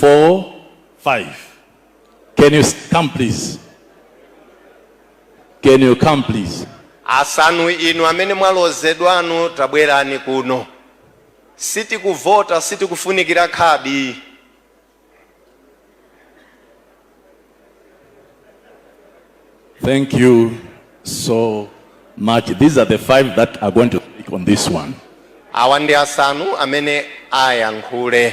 4 5 can you come please can you come please asanu inu amene mwalozedwanu tabwerani kuno sitikuvota sitikufunikira khadi Thank you so much. These are the five that are going to speak on this one. Awa ndi asanu amene ayankhule.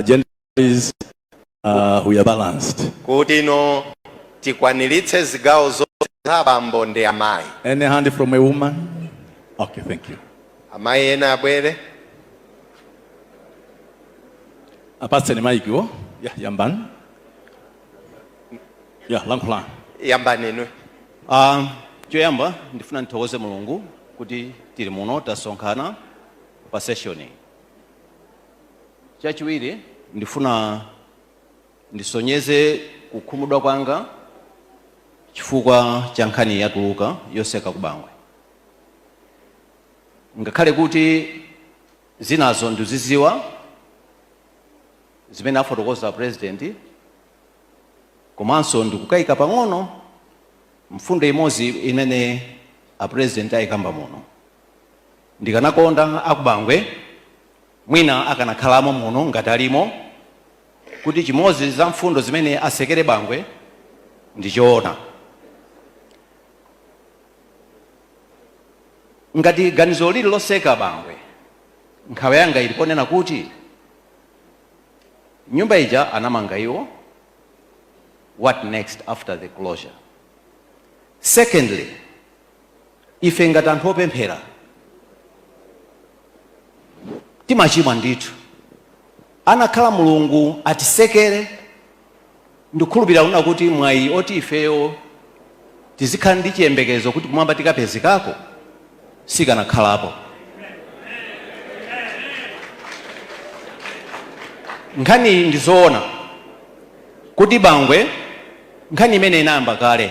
agendas uh, we are balanced. kutino tikwaniritse zigawo zonse za abambo ndi amayi. Any hand from a woman? Okay, thank you. Amayi ena abwere. Apatseni maikiwo. Yeah, yambani. Yeah, lankhulani. Yambani inu. Um, choyamba ndifuna ndithokoze Mulungu kuti tili muno tasonkhana pa session Chachiwiri, ndifuna ndisonyeze kukhumudwa kwanga chifukwa cha nkhani yatuluka yoseka ku Bangwe. Ngakhale kuti zinazo ndikuziziwa zimene afotokoza a president komanso ndikukayika pang'ono mfundo imodzi imene a president ayikamba muno. Ndikanakonda aku Bangwe mwina akanakhalamo muno ngati alimo kuti chimodzi za mfundo zimene asekera Bangwe ndi choona ngati ganizo lili loseka Bangwe nkhawa yanga ili ponena kuti nyumba ija anamanga iwo what next after the closure secondly ife ngati anthu opemphera timachimwa ndithu anakakhala mulungu atisekera ndikukhulupirira kunena kuti mwayi oti ifeyo tizikhala ndi chiyembekezo kuti kumwamba tikapezekako sikanakhalapo nkhaniyi ndi zoona kuti bangwe nkhani imene inayamba kale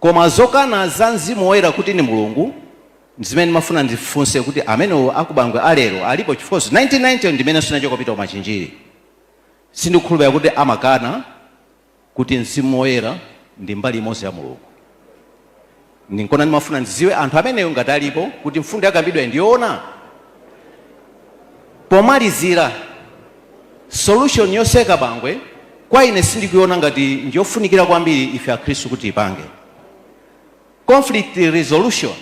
Koma zokana za Mzimu Woyera kuti ndi Mulungu ndizimene ndimafuna ndifunse kuti amene aku Bangwe a lero alipo chifukwa 1990 ndimenenso ndinachoka kupita ku Machinjiri sindikukhulupirira kuti amakana kuti Mzimu Woyera ndi mbali imodzi ya Mulungu ndinkona ndimafuna ndiziwe anthu amenewo ngati alipo kuti mfundo yakambidwayi ndi yoona? Pomalizira Solution yotseka bangwe kwa ine sindikuiona ngati ndi yofunikira kwambiri ife akhristu kuti tiipange. Conflict resolution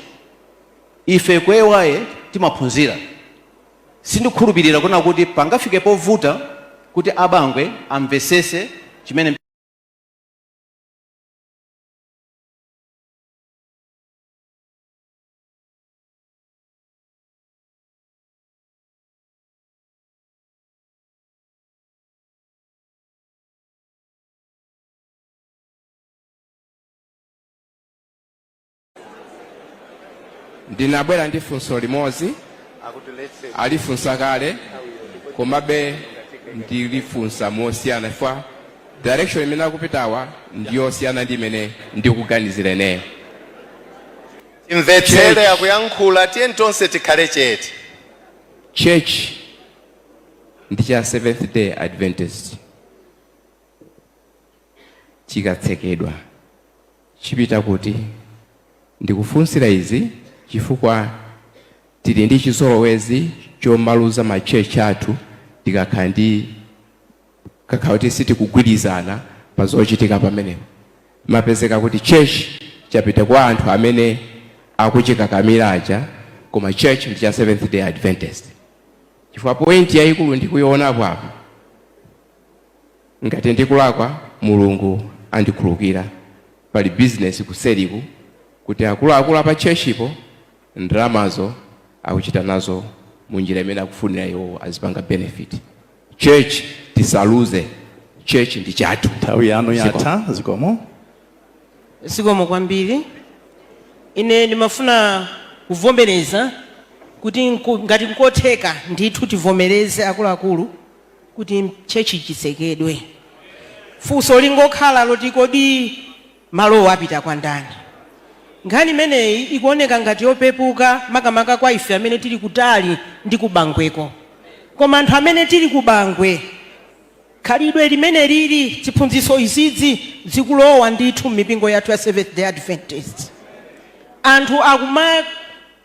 ife ku AY timaphunzira. Sindikukhulupirira kunena kuti pangafike povuta kuti a bangwe amvetsetse chimene. ndinabwera ndi funso limodzi alifunsa kale komabe ndilifunsa mosiyana chifukwa direction imene akupitawa ndiyosiyana ndi imene ndikuganizira ineyo timvetsere akuyankhula tiye tonse tikhale chete church ndi cha seventh day adventist chikatsekedwa chipita kuti ndikufunsira izi chifukwa tili ndi chizolowezi chomaluza ma church athu tikakhala ndi Ngakhale kuti sitikugwirizana pa zochitika pamenepo, zimapezeka kuti church chapita kwa anthu amene akuchikakamira aja koma church ndi cha Seventh Day Adventist. Chifukwa point yayikulu ndikuionapo apa, ngati ndikulakwa Mulungu andikhululukire, pali business kuseriku kuti akuluakulu apa churchpo ndalamazo akuchita nazo munjira imene akufunira iwowo azipanga benefit. Church tisaluze church ndi chathu. Nthawi yanu yatha zikomo. Zikomo kwambiri. Ine ndimafuna kuvomereza kuti nku- ngati nkotheka ndithu tivomereze akuluakulu kuti church chitsekedwe. Funso lingokhala loti kodi Malowo apita kwa ndani? Nkhani imeneyi ikuoneka ngati yopepuka makamaka kwa ife amene tili kutali ndi ku Bangweko. Koma anthu amene tili ku Bangwe, khalidwe limenelili, ziphunzitso izizi zikulowa ndithu m'mipingo yathu ya Seventh-day Adventist. Anthu akumak.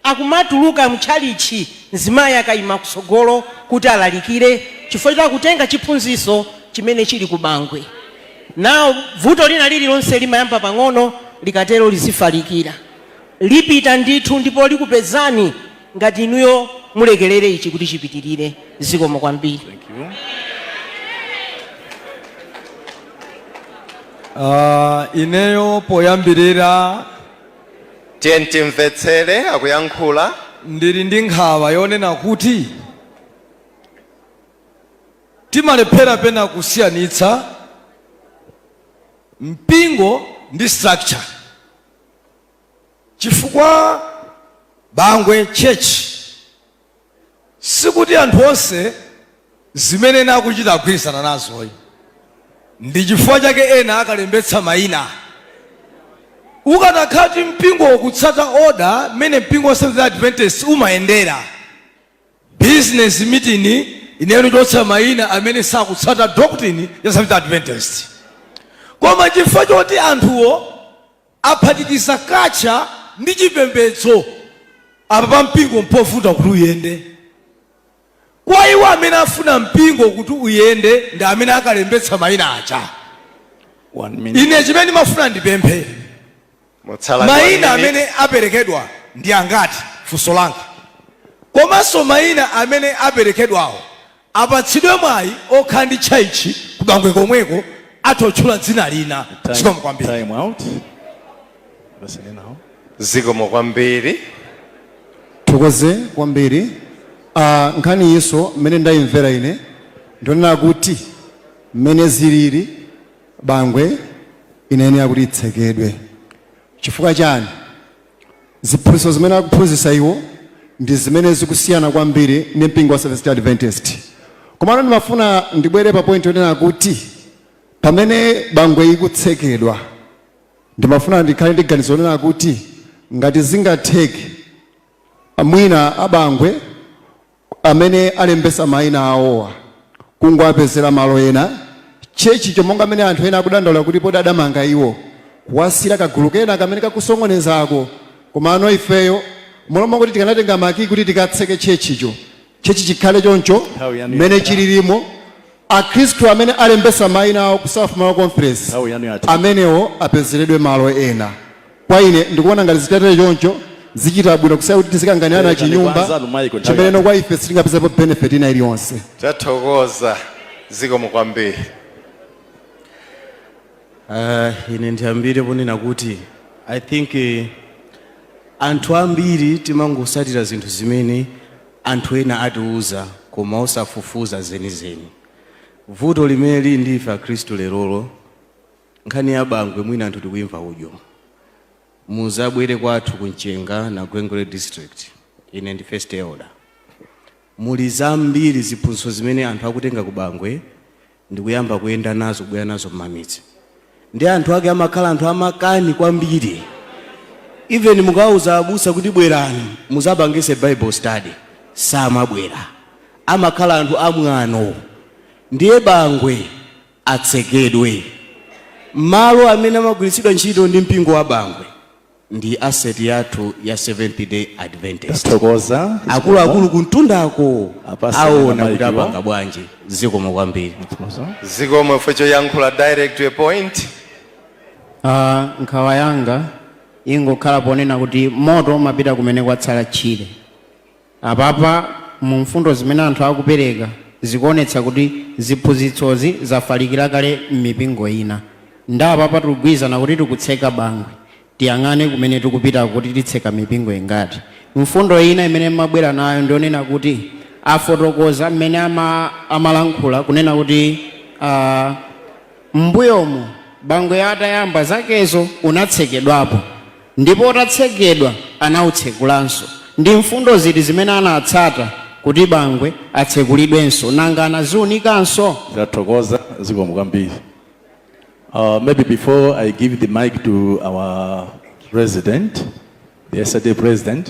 akumatuluka mtchalitchi mzimayi akaima kutsogolo kuti alalikire chifukwa choti akutenga chiphunzitso chimene chili ku bangwe. Now vuto lina lililonse limayamba pang'ono likatero lidzafalikira. Lipita ndithu ndipo likupezani ngati inuyo mulekelere ichi kuti chipitilire. Zikomo kwambiri. Aaa ineyo poyambirira. Tiyeni timvetsere akuyankhula. Ndili ndi nkhawa yonena kuti timalephera penapake kusiyanitsa mpingo ndi structure chifukwa Bangwe church. Sikuti anthu onse zimene ena akuchita akugwirizana nazoyi. Ndichifukwa chake ena akalembetsa maina. Ukanakhala kuti mpingowo ukutsata order mmene mpingo wa Seventh Day Adventist umayendera, business meeting inayenera kuchotsa maina amene sakutsata doctrine ya Seventh Day Adventist. Koma chifukwa choti anthuwo. aphatikiza culture ndi chipembedzo. Apapa mpingo mpovuta kuti uyende. Kwa iwo amene afuna mpingo kuti uyende ndi amene akalembetsa maina aja. One minute. Ine chimene ndimafuna ndipemphe maina one minute. amene aperekedwa ndi angati funso langa komanso maina amene aperekedwawo Apatsidwe mwayi okhala ndi tchaitchi ku Bangwe komweko atha kutchula dzina lina zikomo kwambiri. Time out. Listen now. Zikomo kwambiri. Thokoze kwambiri. Ah, nkhaniyinso mmene ndayimvera ine ndi yonena kuti mmene ziliri Bangwe inayenera kuti itsekedwe chifukwa chani Ziphunzitso zimene akuphunzitsa iwo ndi zimene zikusiyana kwambiri ndi mpingo wa Seventh Day Adventist. Komano ndimafuna ndibwere pa point yonena kuti pamene Bangwe ikutsekedwa ndimafuna ndikhale ndi ganizo lonena kuti ngati zingatheke mwina a Bangwe amene alembesa maina awowa kungowapezela malo ena church cho monga mene anthu ena akudandaula kuti poti adamanga iwo kuwasiyira kagulu kena kamene kakusokonezako komano ifeyo m'malo mongoti tikanatenga makiyi kuti tikatseke church cho church chikhale choncho Nthawi yanu mmene yakwana. chililimu Akhristu amene alembetsa maina awo ku South Malawi Conference amenewo apezeredwe malo ena. Kwa ine ndikuona ngati zitatere choncho zichita bwino kusiyana kuti tizikanganirana chinyumba chimenecho kwa ife sitingapezepo benefit ina iliyonse. Tathokoza. Zikomo kwambiri. Uh, ine ndiyambire ponena kuti I think eh, anthu ambiri timangosatira zinthu zimene Anthu ena atiuza koma osafufuza zenizeni. Vuto limene lili ndi ife akhristu lerolo, nkhani ya Bangwe mwina anthu tikuimva mwina. Muzabwere kwathu ku Mchenga na Gwengwere district, ine ndi first elder. Muli zambiri ziphunzitso zimene anthu akutenga ku Bangwe ndikuyamba kuyenda nazo kubwera nazo mmamidzi ndi anthu ake amakhala anthu amakani kwambiri even mukawauza abusa kuti bwerani muzapangitse bible study samabwera amakhala anthu amwano ndiye bangwe atsekedwe malo amene amagwiritsidwa ntchito ndi mpingo wa bangwe ndi asset yathu ya seventh day adventist tathokoza akuluakulu kumtundako Apase aona kuti maikiwa. apanga bwanji zikomo kwambiri Tathokoza. zikomo ife choyankhula direct to a point Ah, nkhawa yanga ingokhala ponena kuti moto umapita kumene kwatsala tchire Apapa mu mfundo zimene anthu akupereka zikuonetsa kuti ziphunzitsozi zafalikira kale mmipingo ina nde apapa tugwirizana kuti tikutseka Bangwe tiyang'ane kumene tikupitako kuti titseka mipingo ingati. Mfundo ina imene mmabwera nayo ndiyonena kuti afotokoza mmene amalankhula kunena kuti aah mmbuyomu Bangwe atayamba zakezo unatsekedwapo. ndipo utatsekedwa anautsekulanso? Ndi mfundo ziti zimene anatsata kuti Bangwe atsekulidwenso? Nanga anaziunikanso? Tathokoza zikomo kwambiri. Uh, maybe before I give the mic to our president, the SDA president,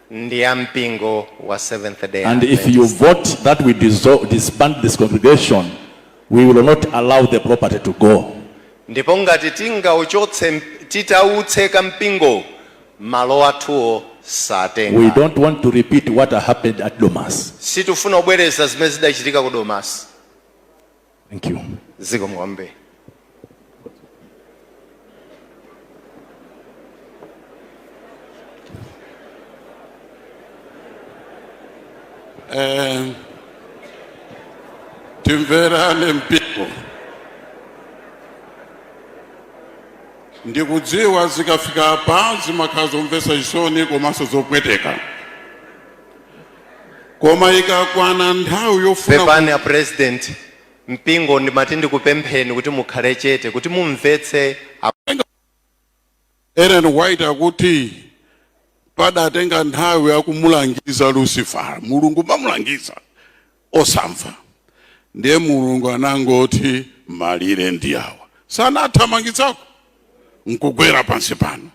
ndi a mpingo wa Seventh Day And if you Adventist. vote that we dissol- disband this congregation, we will not allow the property to go. ndipo ngati tingauchotse mp- titautse kampingo malo athuwo We satenga don't want to repeat what happened at Domasi. sitikufuna kubwereza zimene zidachitika ku domasi Thank you. Zikomo kwambiri. Eh, timverane mpingo ndikudziwa zikafika apa zimakhala zomvetsa chisoni komanso zopweteka koma ikakwana nthawi yofuna pepani a president mpingo ndimati ndikupempheni kuti mukhale chete kuti mumvetse a- ellen white akuti padatenga nthawi akumulangiza lucifer mulungu mamulangiza osamva ndiye mulungu anangoti malire ndi awa satana anathamangitsidwako nkugwera pansi pano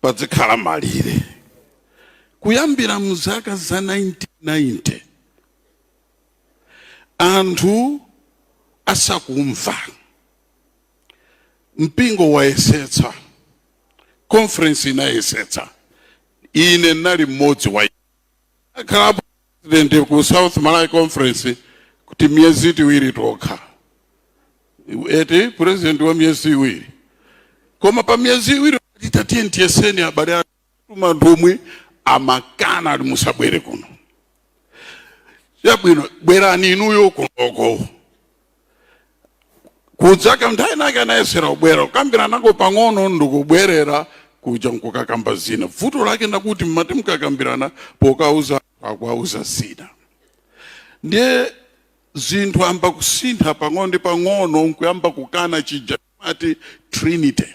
padzikhala malire Kuyambira mzaka za 1990 anthu asakumva, mpingo wayesetsa, conference inayesetsa, ine ndinali mmodzi ndakhalapo president ku South Malawi Conference timiyezi tiwiri tokha, eti president wa miyezi iwiri, koma pa miyezi iwiri tatiyeni tiyese abale kutuma anthu omwe amakana ali musabwere kuno chabwino bwerani inuyo kunoko kudzakhala nthawi inayake anayesera kubwera kukambiranako pang'ono ndikubwerera kuja nkukakamba zina vuto lake ndi lakuti mumati mkakambirana pokauza akukawauza zina ndiye zinthu ziyamba kusintha pang'ono ndi pang'ono nkuyamba kukana chija monga trinity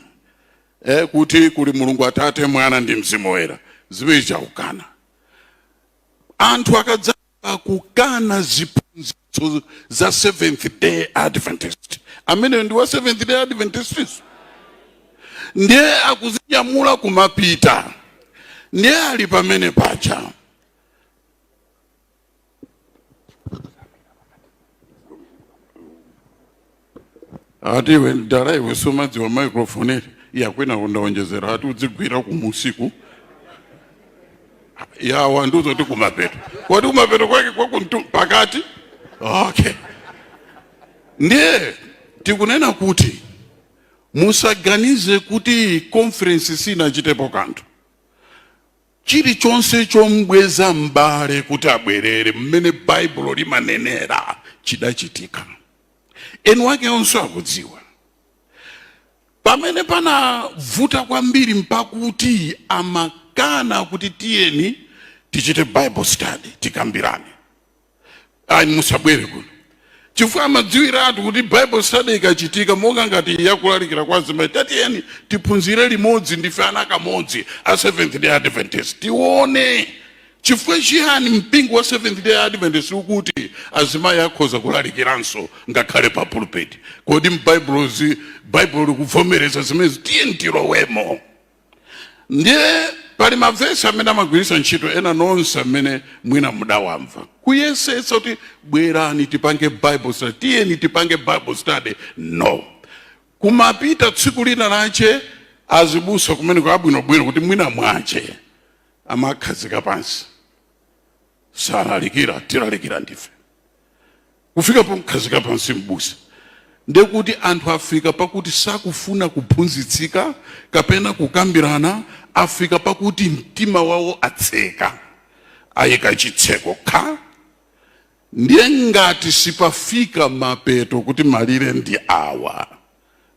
eh, kuti kuli mulungu atate mwana ndi mzimu woyera zimenezo akukana anthu akadzayamba kukana ziphunzitso za seventh day adventist ameneyo ndi wa seventh day adventist ndiye akuzinyamula kumapita ndiye ali pamene pacha ati iwe mdala iwe sumadziwa microphone eti yakwana ndaonjezera ati udzigwira kumusiku ya wanduza kuti kumapeto kodi kumapeto kwake kwa kumtu pakati okay ndiye tikunena kuti musaganize kuti conference sinachitepo kanthu Chirichonse chom'bweza m'bale kuti abwerere mmene Baibulo limanenera chidachitika. Eni wake onse akudziwa. Pamene panabvuta kwambiri mpakuti amakana kuti tiyeni tichite Bible study, tikambirane. ayi musabwere kuno chifukwa amadziwiratu kuti bible study ikachitika monga ngati yakulalikira kwa azimayi tatiyeni tiphunzire limodzi ndife ana amodzi a seventh day adventist tione chifukwa chiyani mpingo wa seventh day adventist ukuti azimayi akhoza kulalikiranso ngakhale pa pulpit kodi m'baibulo baibulo likuvomereza zimenezi tiyeni tilowemo ndiye pali mavesi amene amagwiritsa ntchito ena inunso amene mwina mudawamva kuyesetsa kuti bwerani tipange bible study tiyeni tipange bible study no kumapita tsiku lina lache azibusa kumene kwabwinobwino kuti mwinamwache amakhazika pansi salalikira tilalikira ndife kufika pokukhazika pansi m'busa ndekuti anthu afika pakuti sakufuna kuphunzitsika kapena kukambirana afika pakuti mtima wawo atseka ayika chitseko kha ndiye ngati sipafika mapeto kuti malire ndi awa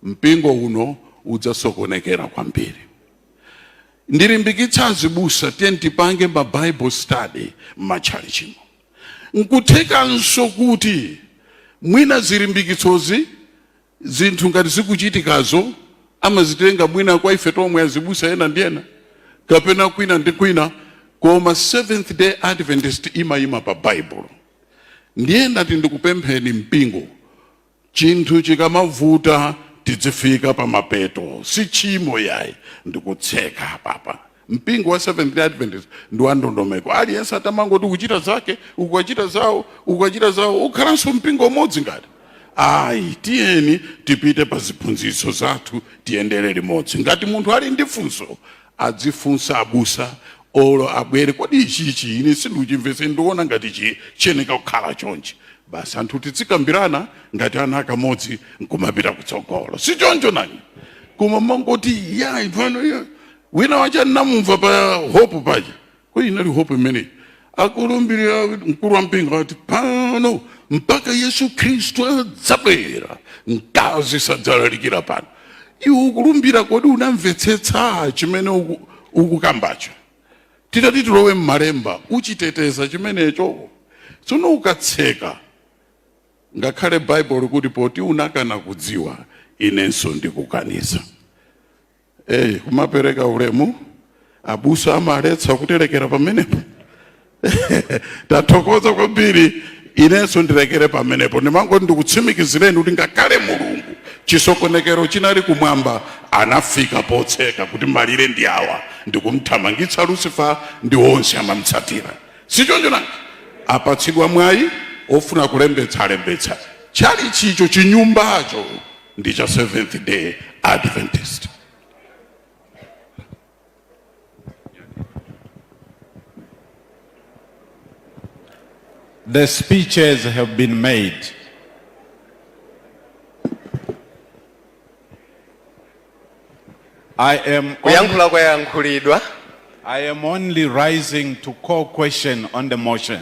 mpingo uno udzasokonekera kwambiri ndilimbikitsa azibusa tiyeni tipange ma bible study m'matchalichimo Nkuthekanso kuti mwina zilimbikitsozi, zinthu ngati zikuchitikazo amazitenga mwina kwa ife tomwe azibusa ena ndi ena kapena kwina ndi kwina, koma Seventh Day Adventist imayima pa Baibulo. Ndiye ndati ndikupempheni mpingo Chinthu chikamavuta tidzifika pamapeto si tchimo yayi ndikutseka apapa. Mpingo wa Seventh Day Adventist ndi wa ndondomeko aliyense atamangoti akuchita zake uku achita zawo uku achita zawo ukhalanso mpingo umodzi ngati ayi tiyeni tipite pa ziphunzitso zathu tiyendere limodzi ngati munthu ali ndi funso adzifunsa abusa or abwere kodi ichichi ine sindikuchimvetsa ndiona ngati chi chiyeneka kukhala chonchi basi anthu tidzikambirana ngati ana akamodzi nkumapita kutsogolo si choncho nanga koma mangoti ya ivano ya wina wacha namumva pa hope paja Kodi inali hope imeneyi? Akulumbirira mkulu wa mpingo ati pano mpaka Yesu Khristu adzabwera mkazi sadzalalikira pano. Iwe ukulumbira, kodi unamvetsetsa chimene uku- ukukambacho? Titati tilowe m'malemba, uchiteteza chimenecho. Tsono ukatseka ngakhale Baibulo likuti poti unakana kudziwa, inenso ndikukaniza. Hey, kumapereka ulemu abusa amaletsa kuti lekera pamenepo tathokoza kwambiri inenso ndilekere pamenepo ndimangoti ndikutsimikizireni kuti ngakhale mulungu chisokonekero chinali kumwamba anafika potseka kuti malire ndi awa ndikumthamangitsa lucifer ndi onse amamtsatira sichoncho nanga apatsidwa mwayi ofuna kulembetsa alembetsa chalichicho chinyumbacho ndi cha seventh day adventist The speeches have been made. I am only, kuyankhula kwayankhulidwa I am only rising to call question on the motion.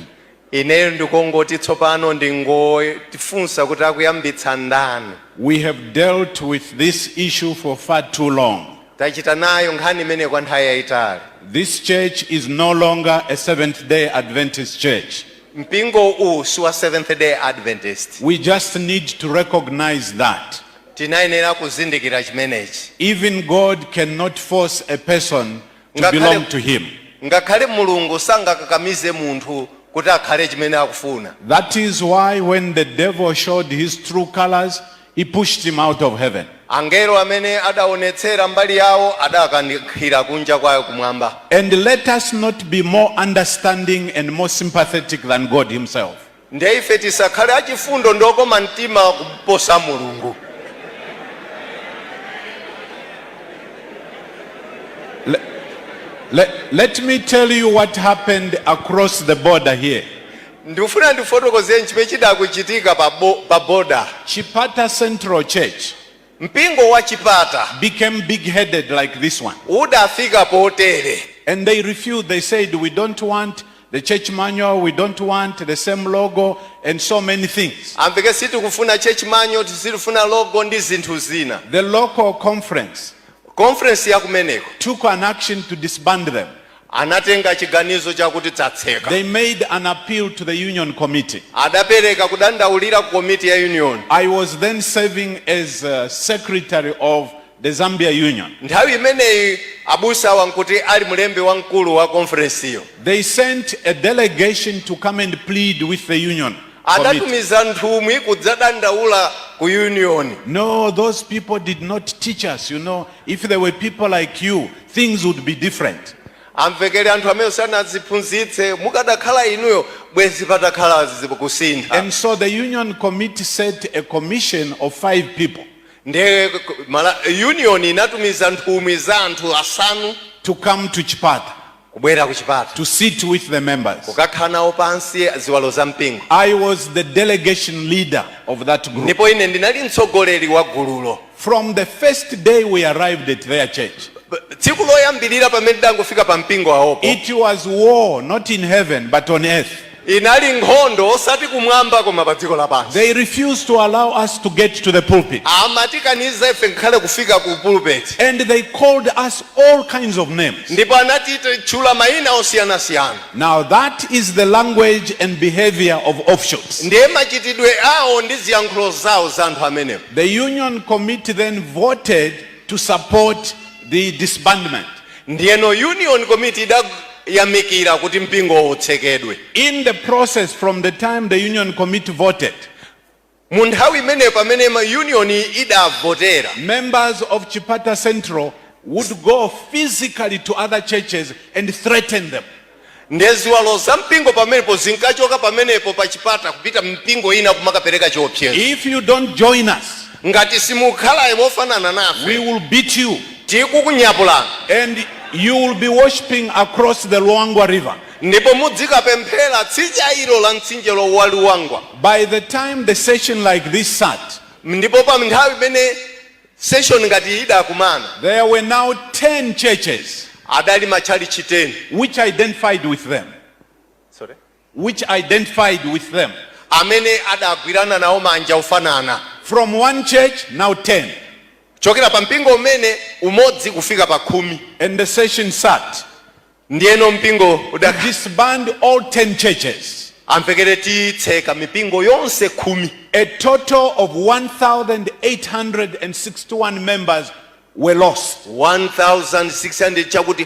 ineyo ndikongoti tsopano ndingofunsa kuti akuyambitsa ndani We have dealt with this issue for far too long. tachita nayo nkhani imeneyi kwa nthawi yayitali This church is no longer a Seventh day Adventist church. mpingo uwu si wa seventh day adventist We just need to recognize that. Tinayenera kuzindikira chimenechi. Even God can not force a person to belong to him. Ngakhale Mulungu sangakakamize munthu kuti akhale chimene akufuna. That is why when the devil showed his true colors, he pushed him out of heaven. Angelo pamene adaonetsera mbali yawo adawakankhira kunja kwa kumwamba. And let us not be more understanding and more sympathetic than God himself. Nde ife tisakhale achifundo ndi okoma mtima kuposa Mulungu? Le, le, let me tell you what happened across the border here. ndikufuna ndikufotokozereni chimene chidachitika pa, bo, pa boda Chipata Central Church. Mpingo wa Chipata. became big headed like this one. udafika potere. And they refused, they said, we don't want the church manual, we don't want the same logo and so many things. amveke sitikufuna church manual sitifuna logo ndi zinthu zina The local conference conference ya kumeneko took an action to disband them. Anatenga chiganizo chakuti tchalitchi atseke. They made an appeal to the Union Committee. Adapereka kudandaulira ku komiti ya Union. I was then serving as secretary of the Zambia Union. Nthawi imeneyi abusawa nkuti ali mlembi wamkulu wa konferensiyo. They sent a delegation to come and plead with the Union Committee. Adatumiza nthumwi kudzadandaula ku Union. No, those people did not teach us, you know, if there were people like you things would be different. Amvekele anthu amenewo sanatiphunzitse, mukadakhala inuyo bwezi patakhala kusintha. And so the union committee set a commission of five people. Ndiye ma union inatumiza nthumwi za anthu asanu to come to Chipata kubwera ku Chipata to sit with the members kukakhala nawo pansi ziwalo za mpingo. I was the delegation leader of that group. Ndipo ine ndinali mtsogoleri wa gululo. From the first day we arrived at their church. Tsiku loyambirira pamene tidangofika pa mpingo wawopo. It was war not in heaven but on earth. Inali nkhondo osati kumwamba koma pa dziko lapansi. They refused to allow us to get to the pulpit. Amatikaniza ife ngakhale kufika ku pulpit. And they called us all kinds of names. Ndipo anatitchula mayina osiyanasiyana. Now that is the language and behavior of offshoots. Ndiye machitidwe awo ndi ziyankhulo zawo za anthu amenewo. The union committee then voted to support the disbandment. Ndiyeno union committee idayamikira kuti mpingowo utsekedwe. In the process from the time the union committee voted, mu nthawi imeneyo pamene union idavotera, members of Chipata Central would go physically to other churches and threaten them. Ndiye ziwalo za mpingo pamenepo zinkachoka pamenepo pa Chipata, kupita mmipingo ina, kumakapereka chiopsezo. If you don't join us. Ngati simukhala mofanana nafe. We will beat you. Tikukunyapulani. And you will be worshiping across the Luangwa River. Ndipo mudzikapemphera tsidya ilo la mtsinje wa Luangwa. By the time the session like this sat. Ndipo pa nthawi imene. session ngati iyi idakumana. There were now ten churches. Adali matchalitchi 10. which identified with them. Sorry? which identified with them. amene adagwirana nawo manja ofanana. From one church, now ten. Kuchokera pa mpingo umene, umodzi kufika pa khumi. And the session sat. Ndiyeno mpingo udakhala. disband all 10 churches, Amvekere, titseka mipingo yonse khumi. a total of 1,861 members were lost. 1,600 chakuti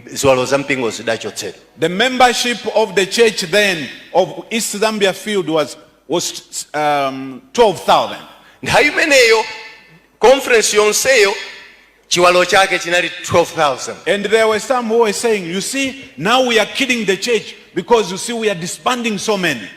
ziwalo za mpingo zidachotsedwa. The membership of the church then of East Zambia Field was, was um, 12,000. Nthawi imeneyo conference yonseyo Chiwalo chake chinali 12,000. And there were some who were saying, you see, now we are killing the church because you see we are disbanding so many.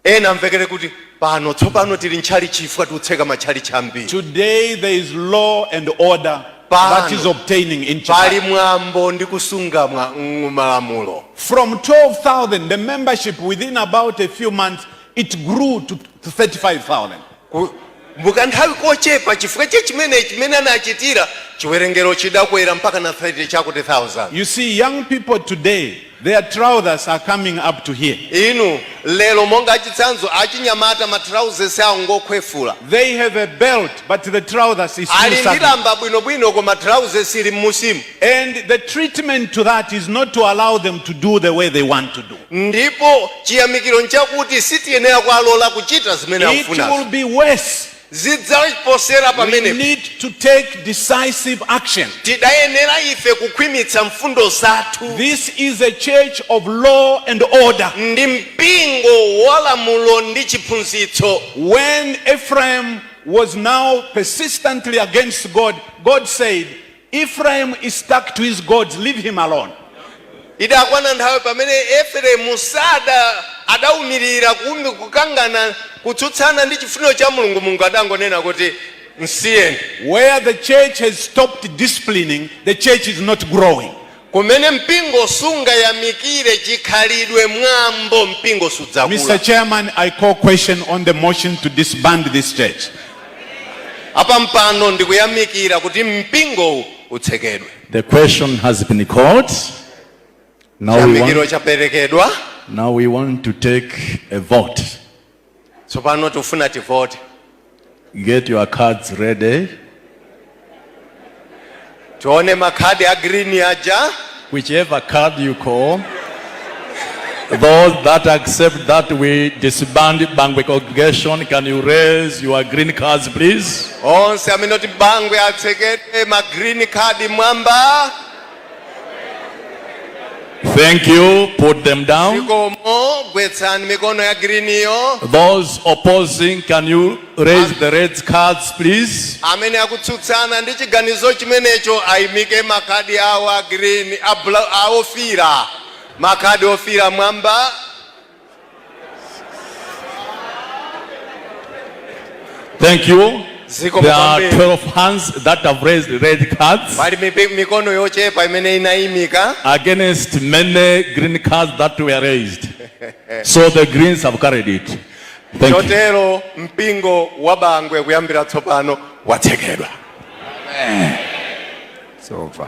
Ena amvekere kuti pano tsopano tikupha tchalitchi chifukwa tikutseka matchalitchi ambiri. Today there is law and order that is obtaining in pali church. mwambo ndi kusunga mwa- mm, malamulo. From 12,000, the membership within about a few months, it grew to to 35,000. Ku, mu kanthawi kochepa chifukwa cha chimene chimene anachitira, chiwerengero chidakwera mpakana 30 chakuti thousand. You see, young people today, their trousers are coming up to here. Inu, lero monga chitsanzo, achinyamata ma trousers awo ngokhwefula. They have a belt, but the trousers is still Ali ndi sagging. lamba bwinobwino koma trousers ili mmusimu. And the treatment to that is not to allow them to do the way they want to do. Ndipo chiyamikiro nchakuti sitiyenera kuwalola kuchita zimene It will akufunazo. be worse. Zidzaposera We pamenepo. need to take decisive action. Tiyenera ife kukhwimitsa mfundo zathu. This is a church of law and order. Ndi mpingo wa lamulo ndi chiphunzitso. When Ephraim was now persistently against God, God said, Ephraim is stuck to his gods, leave him alone. Idakwana nthawi pamene Efereimu sada adaumirira kuumi kukangana kutsutsana ndi chifuniro cha Mulungu, Mulungu adangonena kuti, Msiyeni. Where the church has stopped disciplining, the church is not growing. Kumene mpingo sungayamikire chikhalidwe, mwambo, mpingo sudzakula. Mr chairman I call question on the motion to disband this church. Apampando ndikuyamikira kuti mpingowu utsekedwe. The question has been called. Now we want, now we want to take a vote. Tsopano tifuna tivote. Get your cards ready. Tione makhadi a green aja. Whichever card you call. Those that accept that we disband Bangwe congregation, can you raise your green cards please? Onse amene akuti Bangwe atsekedwe ma green card mwamba. Thank you. Put them down. Zikomo, gwetsani mikono ya griniyo. Those opposing, can you raise the red cards, please? Amene akutsutsana ndi chiganizo chimenecho aimike makadi awo a green, a bla- a ofira. Makadi ofira mwamba. Thank you. Ziko There are mkwambie. 12 hands that have raised red cards pali mipi- mikono yochepa imene inayimika against many green cards that were raised. So the Greens have carried it. Thank you. chotero mpingo wa bangwe kuyambira tsopano watsekedwa It's over.